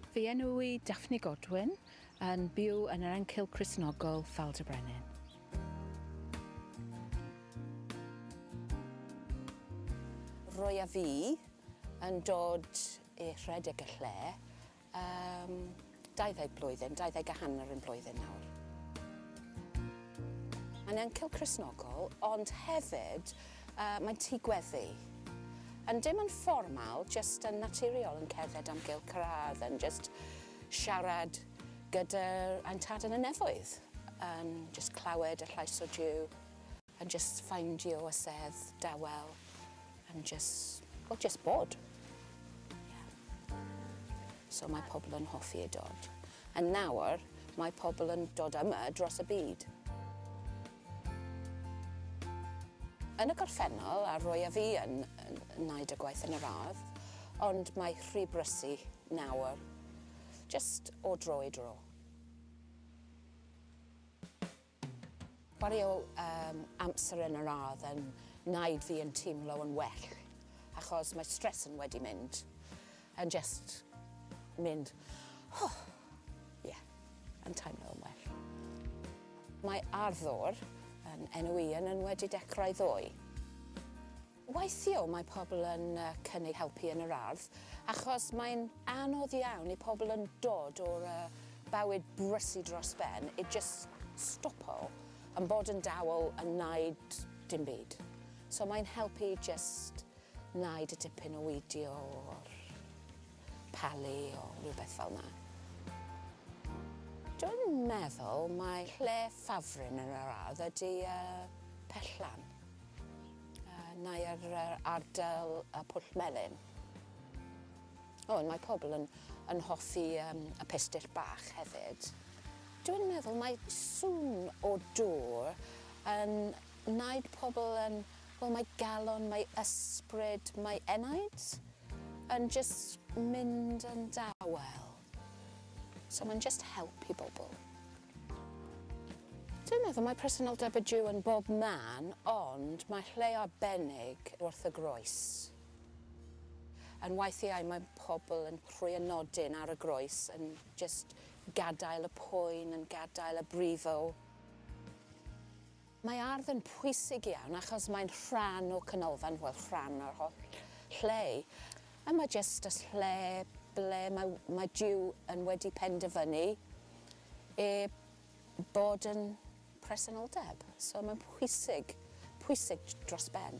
Fy enw i Daphne Godwin, yn byw yn yr Encil Cristnogol, Ffald y Brenin. Roedd fi yn dod i rhedeg y lle Yym, dau ddeg blwyddyn, dau ddeg a hanner un blwyddyn nawr. Mae'n encil Cristnogol, ond hefyd uh, mae'n tŷ gweddi. Yn dim yn fformal, jyst yn naturiol yn cerdded am gael cyrraedd, yn jyst siarad gyda'r ein tad yn y nefoedd, yn jyst clywed y llais o Jew. A jyst ffaindio y sedd dawel and jyst, wel jyst bod. Ie. So mae pobl yn hoffi ei dod. A nawr mae pobl yn dod yma dros y byd. Yn y gorffennol, a Roy a fi yn wneud y gwaith yn yr ardd, ond mae rhy brysu nawr, jyst o dro i dro. Chwaraeodd yym amser yn yr ardd yn naid fi yn teimlo yn well achos mae stress yn wedi mynd yn jyst mynd oh ie yn teimlo yn well. Mae ardd ddwr yn enw i yn yn wedi dechrau ddoe. Weithio mae pobl yn cynnig helpu yn yr ardd achos mae'n anodd iawn i pobl yn dod o'r bywyd brysy dros ben i jyst stopo yn bod yn dawel yn wneud dim byd. So mae'n helpu i jyst wneud y dipyn o widio o'r palu o rhywbeth fel yna. Dwi'n meddwl mae lle ffafrin yn yr ardd ydy Pellan. Nai ar yr ardal y Pwll Melyn. O, mae pobl yn, yn hoffi um, y pistyll bach hefyd. Dwi'n meddwl mae sŵn o dŵr yn wneud pobl yn... Wel, mae galon, mae ysbryd, mae enaid yn just mynd yn dawel. So mae'n just helpu bobl. Dwi'n meddwl mae presenoldeb y Jiw yn bob man ond mae lle arbennig wrth y groes. Yn weithiau mae pobl yn rhoi y nodyn ar y groes yn jyst gadael y poen yn gadael a brifo. Mae ardd yn pwysig iawn achos mae'n rhan o canolfan, wel rhan o'r holl lle. A mae jyst y lle ble mae, mae Duw yn wedi penderfynu e bod yn presenoldeb. So mae'n pwysig, pwysig dros ben.